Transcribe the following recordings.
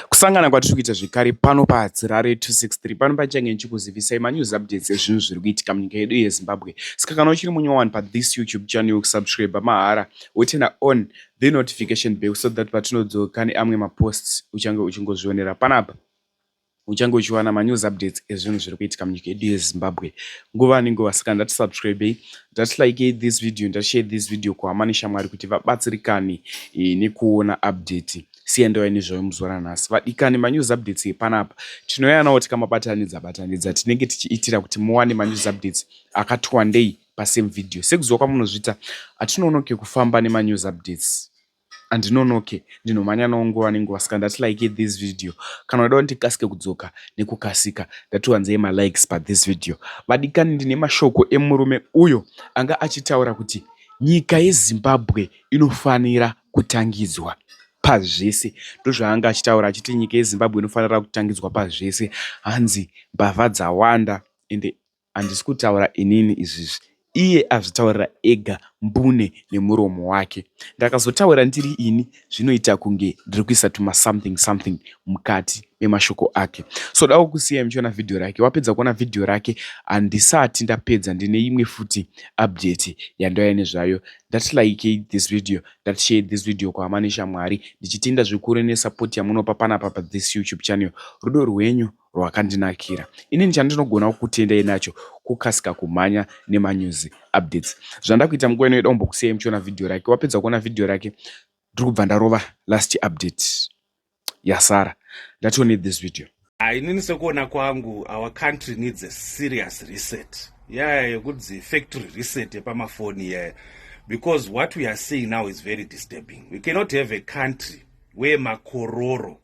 Kusangana kwatiri kuita zvekare pano paHadzirare 263 pano pachange ndichikuzivisai manews updates ezvinhu zviri kuitika munyika yedu yeZimbabwe. Saka kana uchiri munyowani pathis YouTube channel yokusubscribe mahara wotena on the notification bell so that patinodzoka neamwe maposts uchange uchingozvionera panapa. Uchange uchiwana ma news updates ezvinhu zviri kuitika munyika yedu yeZimbabwe nguva nenguva. Saka ndati subscribei, ndati likei this video, ndati share this video kuhama neshamwari kuti vabatsirikane e, nekuona update siya ndauya nezvayo muzuva ranhasi vadikani manews updates epanapa tinouya nawo tikamabatanidza batanidza tinenge tichiitira kuti muwane manews updates akati wandei pasame video sekuziva kwamunozviita hatinoonoke kufamba nemanews updates andinonoke ndinomhanya nawo nguva nenguva saka ndati like this video kana udawo ndikasike kudzoka nekukasika ndatiwanzei malikes pathis video vadikani ndine mashoko emurume uyo anga achitaura kuti nyika yezimbabwe inofanira kutangidzwa pazvese ndozvaanga achitaura achiti nyika yezimbabwe inofanira kutangidzwa pazvese hanzi mbavha dzawanda ende Handisi kutaura inini izvizvi. Iye azvitaurira ega mbune nemuromo wake. Ndakazotaura ndiri ini zvinoita kunge ndiri kuisa tuma something something mukati memashoko ake. So dawo kusiyai muchiona video rake. Wapedza kuona video rake handisati ndapedza ndine imwe futi update yandouya nezvayo. Ndati like this video, ndati share this video kuhama neshamwari. Ndichitenda zvikuru nesupport yamunopa panapa pa this YouTube channel. Rudo rwenyu rwakandinakira. Inini chandinogona kukutendai nacho kukasika kumhanya nemanews updates. Zvandakuita munguva ino yedombokusiyai muchiona video rake. Wapedza kuona video rake ndiri kubva ndarova last update yasara. That you need this video. Ah, inini sekuona kwangu our country needs a serious reset yaya yeah, yekudzi factory reset yepamafoni yaya yeah. because what we are seeing now is very disturbing we cannot have a country where makororo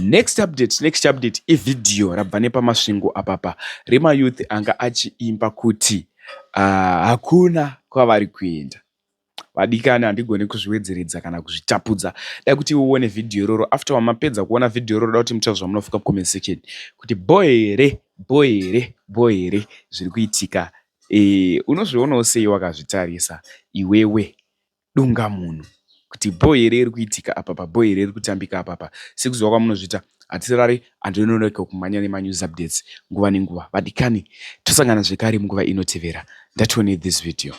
Next update, next update ivideo rabva nepamasvingo apapa remayouth anga achiimba kuti ah, hakuna uh, kwavari kuenda vadikani handigone kuzviwedzeredza kana kuzvitapudza da kuti uone vhidhiyo iroro after wamapedza kuona vhidhiyo iroro da kuti muchava zvamunofuka comment section kuti bho here bho here bho here zviri kuitika e, unozvionawo sei wakazvitarisa iwewe dungamunhu kuti bho here iri kuitika apa pa bho here iri kutambika apa apa sekuziva kwamunozviita hatisarari antu inonoka kumhanya nemanews updates nguva nenguva vadikani tosangana zvekare munguva inotevera ndatione this video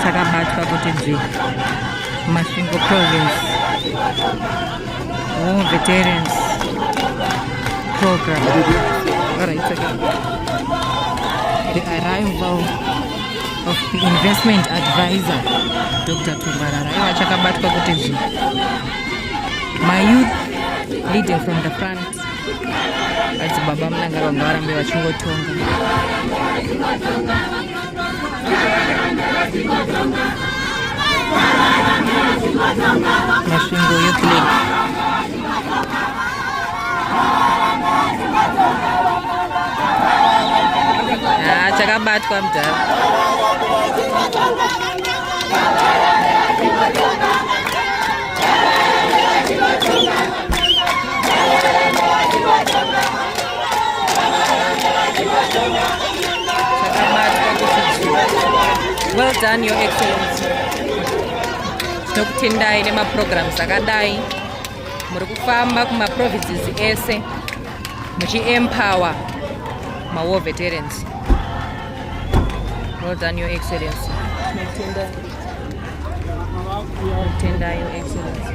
takabatwa kuti dzii masvingo province War Veterans Program. All right, okay. The arrival of the investment advisor, Dr. Tumbarara. Iwa chakabatwa kuti zvi. My youth leading from the front. Adzibaba mnanga vangarambe vachingotonga. Masvingo Youth League. Ah, chakabatwa mudhara. well done your excellency tinokutendai nemaprograms akadai muri kufamba kumaprovinces ese muchiempower mawar veterans well done your excellency tinotenda your excellency